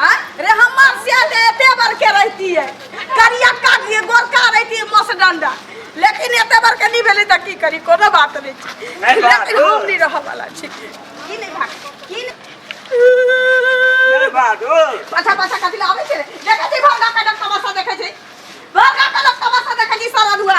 आ? रे हमार से जे एते बार के रहती है करिया काट दिए गोरका रहती है मस डंडा लेकिन एते बार के नहीं भेले त की करी कोनो बात नहीं छै नहीं बात लेकिन हो। हम नहीं रह वाला छी की नहीं भाग की नहीं जय बहादुर पाछा पाछा कथी लावे छै रे? देखै छी भरगा कनक तमाशा देखै छी भरगा कनक तमाशा देखै छी सारा दुआ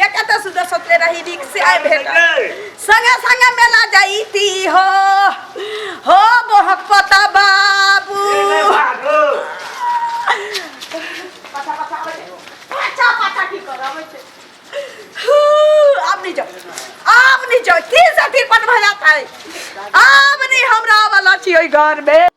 ये कत सुदर सोचले रही नीक से आए भेट संगे संगे मेला जाईती हो हो बहक पता बाबू पाछा पाछा आबै छै। पाछा पाछा की कर आबै छै हू, आब नहीं जाओ आब नहीं जाओ तीन से तीन पट भजा था आब नहीं हमरा वाला छी ओई घर में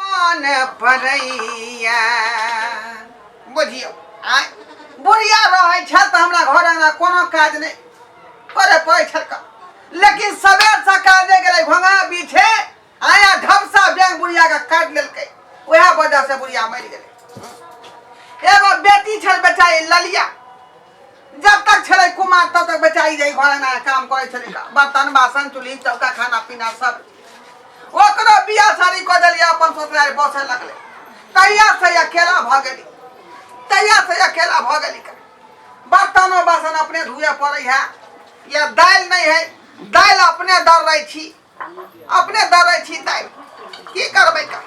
मन पड़ैया बुझियौ आय बुढ़िया रहै छल तऽ हमरा घर अंगना कोनो काज नहि करे पड़ै छल का। लेकिन सबेर सकाल जे गेलै घोंघा पीछे आया ढपसा बैंक बुढ़िया के काट लेलकै वएह वजह से बुढ़िया मरि गेलै एगो बेटी छल बेचारी ललिया जब तक छले कुमार तब तक बेचारी रही घर अंगना काम करे छले बर्तन बासन चूल्ही चौका खाना पीना सब ओकरो बिया सारी क देलिए अपन ससुराल बसे लगले तैया से अकेला भ गेली तैया से अकेला भ गेली का। बर्तनो बासन अपने धुए पड़े है या दाल नहीं है दाल अपने दर रही छी अपने दरै छी तै की करबै का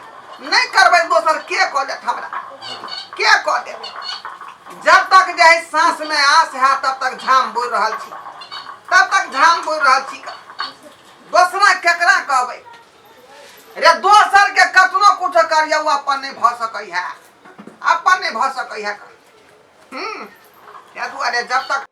नहि करबै दोसर के कऽ देत हमरा के कऽ देत जब तक जे है साँस में आस है तब तक झाम बोल रहल छी तब तक झाम बोल रहल छी का दोसरा केकरा कहबै रे दोसर के कतनो कुछ करिए ओ अपन नहि भऽ सकै है अपन नहि भऽ सकै है का हम्म, ताहि दुआरे जब तक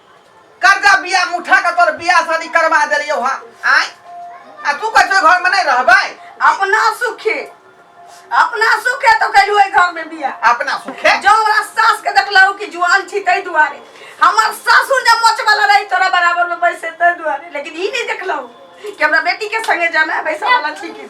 कर्जा बिया मुठा के तोर बिया शादी करवा देलियो हा आय आ तू कहै छौ घर में नहीं रहबै अपना सुखे अपना सुखे तो कैलू है घर में बिया अपना सुखे जो हमरा सास के देखलहु कि जुआन छी तै दुआरे हमर सासुर जब मच वाला रही तोरा बराबर में बैसे तै दुआरे लेकिन ई नहीं देखलहु कि हमरा बेटी के संगे जाना है बैसा वाला छी कि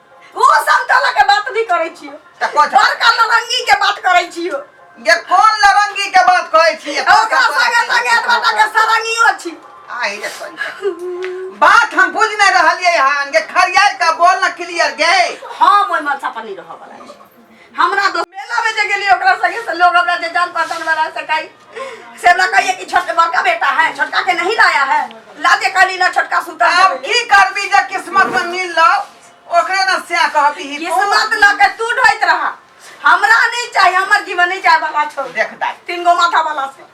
ओ सब तला के बात नहीं करे छियो त कोन छ बड़का लरंगी के बात करे छियो ये कोन लरंगी के बात कहै छी ये कोन ओकरा कपड़ा संगे के संगे बात एतबा के सरंगियो छी आही रे कोन छ। बात हम बुझ नहीं रहलिए हन के खरियार का बोल न क्लियर गए हम ओइ मनसा पर नहीं रह वाला छी हमरा तो मेला में जे गेली ओकरा संगे से लोग हमरा जे जान पहचान वाला से कही से हमरा कहिए कि छोट बड़का बेटा है छोटका के नहीं लाया है ला दे काली ना छोटका सूता आब की करबी जे किस्मत में मिल लो ओकरे ना से कहबी ही तू। किस्मत ला के तू ढोइत रहा हमरा नहीं चाहिए हमर जीवन नहीं चाहिए भला छोड़ देख दाई तीन गो माथा वाला से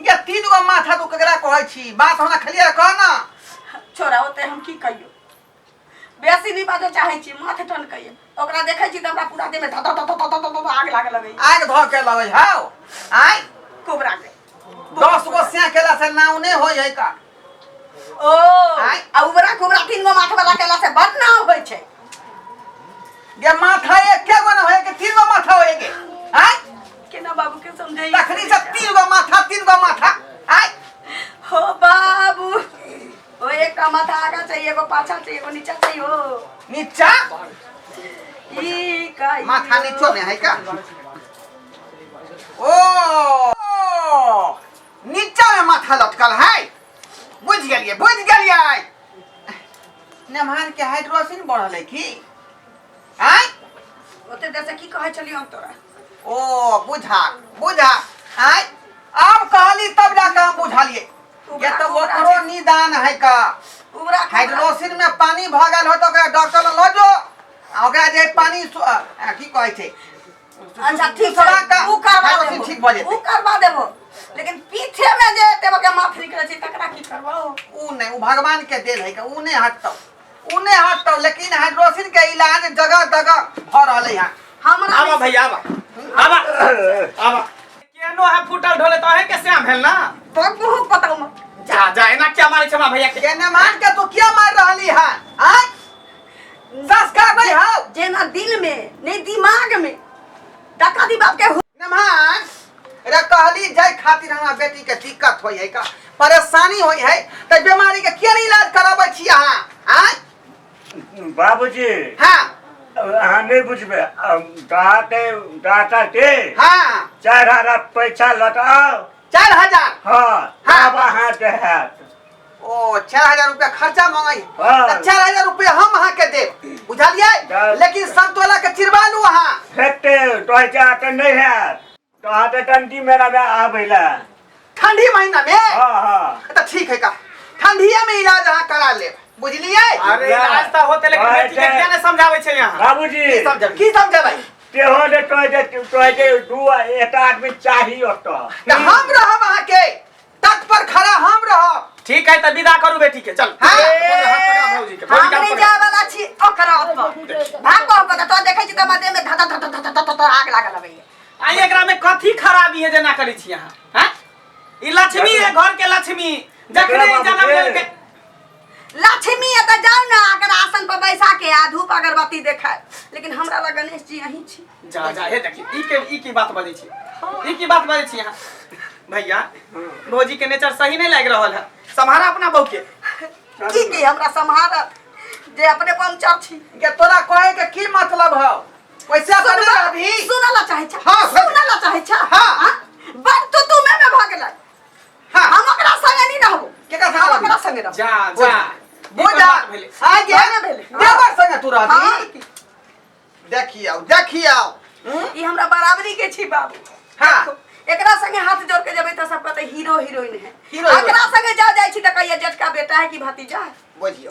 ये तीन गो माथा तू केकरा कहै छी बात हमरा खलिया कह ना छोरा होते हम की कहियो बेसी नहीं बाजो चाहे छी माथे टन कहिए ओकरा देखे छी त हमरा पूरा देह में धत धत धत धत धत आग लागे लगे आग धो के लगे हाउ आय कोबरा के दस गो से केला से नाव नहीं होय है का ओ आँय? आ उबरा कुबरा तीन गो माथ वाला केला से बड़ नाव होइ छै ये माथा एक के गो ना होए के तीन गो माथा होए के आय केना बाबू के समझाई तखनी से तीन गो माथा तीन गो माथा आय हो बाबू ओ एक का माथा आगा चाहिए एगो पाछा चाहिए एगो नीचा चाहिए हो नीचा ई का ई माथा हो। नीचो में है का ओ नीचा में माथा लटकल है बुझ गलिए बुझ गलिए नमहर के हाइड्रोसिन बढ़ल है की आय ओते देर से की कहै छलियै हम तोरा ओ बुझा बुझा आय आब कहली तब जाके हम बुझलिए ये तो ओकरो निदान है का उबरा के- हाइड्रोसिन में पानी भगल हो तो ओकरा डॉक्टर लग लो आ ओकरा जे पानी सु- अ, की कहै छै अच्छा ठीक छै उ करबा देबो ठीक भ जेतै उ करबा देबो लेकिन पीछे में जे एते बके माथ निकले छै तकरा की करबो उ नै उ भगवान के देल है के उ नै हटतौ उ नै हटतौ लेकिन हाइड्रोसिन के इलाज जगह जगह भ रहले है हमरा आवा भैया आवा आवा आवा केनो है फूटल ढोले त अहे के श्याम भेल ना तो तू पता मत जा जा एना क्या मारे छमा भैया के केने मार के तू क्या मार रहली है आ दस कहबै हौ जेना दिल में नहीं दिमाग में डका दी बाप के हो- नमहान रे कहली जाय खातिर हमरा बेटी के दिक्कत होई है का परेशानी होई है त बीमारी के किया नहीं इलाज कराबै छी अहाँ आय बाबूजी हाँ अहाँ नहीं बुझबे कहा के डाटा के हाँ चार हजार पैसा लौटाओ चार हजार हाँ हाँ। अब अहाँ देहत ओ चार हजार रुपया खर्चा मांगे हाँ। तो चार हजार रुपया हम अहाँ के देब हाँ। बुझलिए लेकिन संतोला के चिरवा लू अहाँ हेते तोहे चाह त नहीं है तोहा त टंटी में रबे आबैला ठंडी महीना में हां हां तो ठीक है का ठंडिया में इलाज अहाँ करा लेब बुझलिए अरे बुझला। इलाज त होते लेकिन हाँ, बेटी के हेते। किया ने समझाबै छै यहाँ बाबूजी की समझब की समझबै तेहो ने तोहे जे तोहे जे दू एकटा आदमी चाही ओतऽ तो हम रहब अहाँ के तक पर खड़ा हम रहब ठीक है त विदा करू बेटी के चल हाँ। अपन हाथ पकड़ा भौजी के भौजी हम का नहीं पकड़ा। जाए वाला छी ओकरा पर भाग को पता तो देखै छी त मदे में धता धता धता धता धता आग लागल हबे आई एकरा में कथी खराबी है जे ना करै छी अहाँ हैं ई लक्ष्मी है घर के लक्ष्मी जखने जन्म लेलकै लक्ष्मी एतऽ जाउ ने अगर आसन पर बैसा के आ धूप अगरबत्ती देखाय लेकिन हमरा लग गणेश जी अहीं छी जा जा हे देखी ई के ई की बात बजै छी ई की बात बजै छी अहाँ भैया भौजी के नेचर सही नहीं लाग रहल है सम्हारा अपना बहू के की की हमरा सम्हारत जे अपने पंचर छी के तोरा कहे के की मतलब है वैसे सुन ला- अभी सुन ला चाहे छा हाँ, सुन। सुन ला चाहे छा हाँ। बड़ तो तू में में भगल हाँ। हम ओकरा संगे नहीं रहबो केकरा संगे हम रहबी? ओकरा संगे रहबो जा जा ई बोल तो जा बात भेलै। आ गया ना भेले देवर संगे तू रहबी हाँ। देखियो देखियो हम्म? ई हमरा बराबरी के छी बाबू हाँ। देखो, एकरा संगे हाथ जोड़ के जेबै त सब कहते हीरो हीरोइन है Hero, heroine। एकरा संगे जा जाइ छी त कहिया जेठका बेटा है कि भतीजा है बुझियो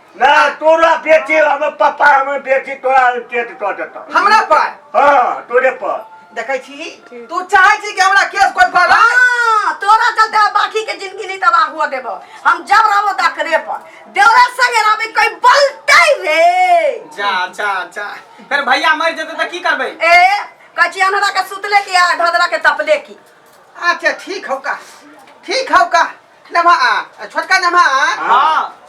ना तोरा बेटी हम पापा हम बेटी तोरा पेट कऽ देतौ हमरा पर हँ तोरे पर देखै छी तू चाहै छी कि हमरा केस कोर्ट पर लाए? हाँ, तोरा चलते हम बाकी के जिंदगी नहीं तबाह हुआ देबो हम जब रहो दखरे पर देवरा संगे रहबे कोई बोलते रे जा जा जा फिर भैया मर जेतै तऽ की करबै ए कची अनहरा के सुतले की आ धदरा के तपले की अच्छा ठीक हौ का ठीक हौ का नम्हा आ आ छोटका नम्हा आ हाँ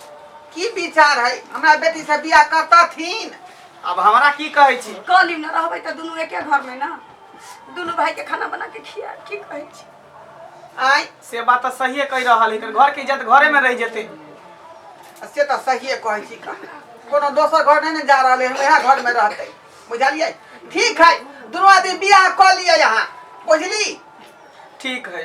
की विचार है हमरा बेटी से बियाह करतथिन अब हमरा की कहै छी कहली ना रहबै तऽ दुनू एके घर में ना दुनू भाई के खाना बना के खिया की कहै छी आय से बात तऽ सहिए कहि रहल है घर के इज्जत घरे में रह जेते से तऽ सहिए कहै छी का कोनो दोसर घर नहि ने जा रहल है हम यहाँ घर में रहते बुझलियै ठीक है दुनू आदमी बियाह कऽ लिअ यहाँ बुझली ठीक है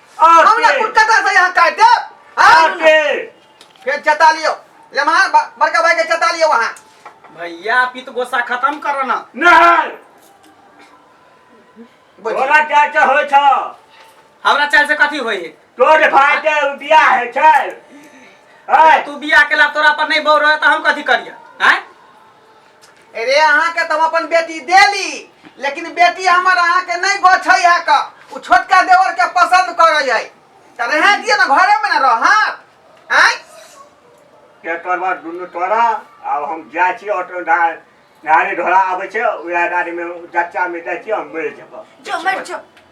हमरा आटे कुर्ता का से यहाँ काट दे हाँ आटे फिर चता लियो ले वहाँ ब- बड़का भाई के चता लियो वहाँ भैया पित गोसा खत्म करो ना नहीं बोल। तोरा क्या क्या होय छ हमरा चाल से कथी होई है तोर भाई के बियाह है छै है तू बिया के ला तोरा पर नहीं बौर रहे तो हम कथी करिया हैं अरे अहाँ के तो हम अपन बेटी देली लेकिन बेटी हमर अहाँ के नहीं गोछै है का उ छोटका देवर के पसंद करे है त रहे दिए ना घरे में ना रह आय के करबा दुनू तोरा आब हम जाइ छी ऑटो धार गाड़ी घोड़ा आबै छै उएह गाड़ीमे जच्चामे जाइ छी हम मरि जेबह जो मर जो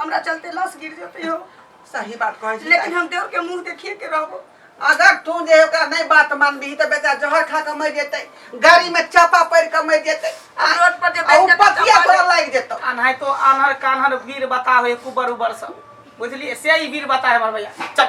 हमरा चलते लाश गिर जेतै हो सही बात कहै छी लेकिन हम देव के मुंह देखिए के रहबो अगर तू जे ओकरा नहीं बात मानबी तो बेटा जहर खा के मर जेतै गाड़ी में चापा पड़ के मर जेतै आ रोड पर जे आ उ बेच के पतिया चापा तोरा लाग जेतौ अनहाय तो अनहर कान्हर वीर बतावे कुबर उबर सब बुझलिए से ही वीर बताए हमर भैया चल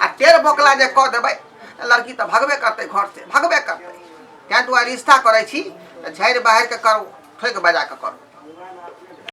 आ टेर बोकला जे कह देबै लड़की तऽ भगबे करतै घर से भगबे करतै तैं दुआरे रिश्ता करै छी तऽ झाड़ि बहारि कऽ करू ठोकि बजा कऽ करू